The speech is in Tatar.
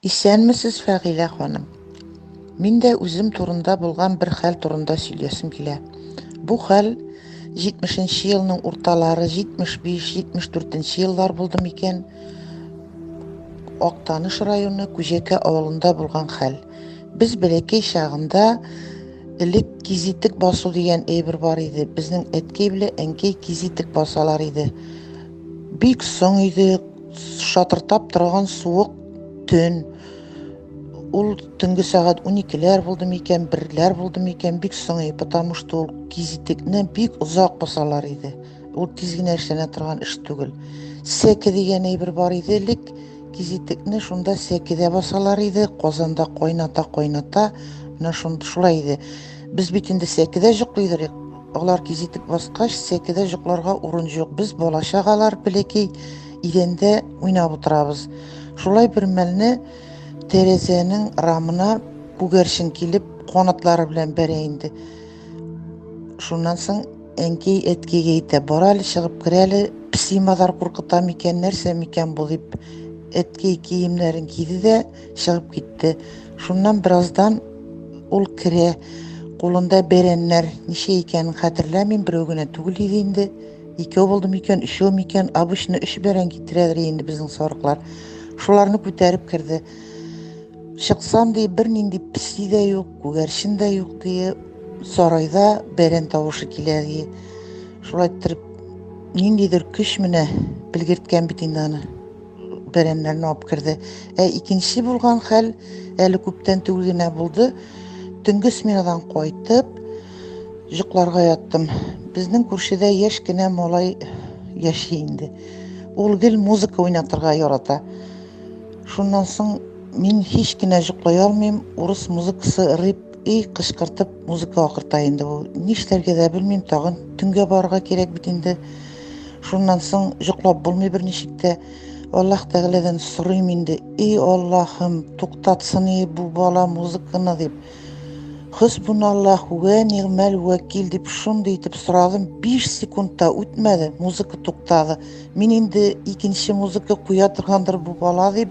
Исәнмесез, Фәгилә ханым. Мин дә үзем турында булган бер хәл турында сөйләсем килә. Бу хәл 70-нче елның урталары, 75-74-нче еллар булды микән? Актаныш районы Күҗәкә авылында булган хәл. Без бәләкәй чагында элек кизитек басу дигән әйбер бар иде. Безнең әткәй белән әнкәй кизитек басалар иде. Бик соң иде, Шатыртап торган суык төн. Ул төнге сәгать 12-ләр булды микән, берләр булды микән, бик соңый, потому что ул кизитекне бик озак басалар иде. Ул тиз генә эшләнә торган эш түгел. Сәке дигән әйбер бар иде элек, кизитекне шунда сәкедә басалар иде, казанда кайната-кайната, менә шулай иде. Без бит инде сәкедә җоклый идек, Алар кизитеп баскач, сәкедә җокларга урын җук. Без бала-чагалар пелеки идәндә уйнап утырабыз. Шулай бер мәлне тәрәзәнең рамына күгәрчен килеп, канатлары белән бәрә инде. Шуннан соң әнкәй әткәйгә әйтә, бар әле чыгып кер әле, песи-мазар куркыта микән, нәрсә микән бу дип. Әткәй киемнәрен киде дә, Чыгып китте. Шуннан бераздан ул керә. Кулында бәрәннәр, ничә икәнен хәтерләмим, берәү генә түгел иде инде. Икәү булды микән, өчәү микән, обычно өч бәрән китерәдер инде безнең сарыклар. Шуларны күтәреп керде. Чыксам ди, бернинди песи дә юк, күгәрчен дә юк ди. Сарайда бәрән тавышы килә ди. Шулай иттереп, ниндидер көч менә белгерткән бит инде аны. бәрәмнәрне алып керде. Ә икенче булган хәл әле күптән түгел генә булды. Төнге сменадан кайтып, йокларга яттым. Безнең күршедә яшь кенә малай яши инде. Ул гел музыка уйнатырга ярата. Шуннан соң мин һич кенә йоклый алмыйм, урыс музыкасы рыб И кычкыртып музыка акырта инде ул. Нишләргә дә белмим, тагын төнгә барырга кирәк бит инде. Шуннан соң йоклап булмый берничек тә. Аллаһ Тәгаләдән сорыйм инде. И Аллаһым, туктатсын и бу бала музыканы дип. Хосбуналлаһ вә нигъмәл вәкил дип шундый итеп сорадым. 5 секундта үтмәде, музыка туктады. Мин инде икенче музыка куя торгандыр бу бала дип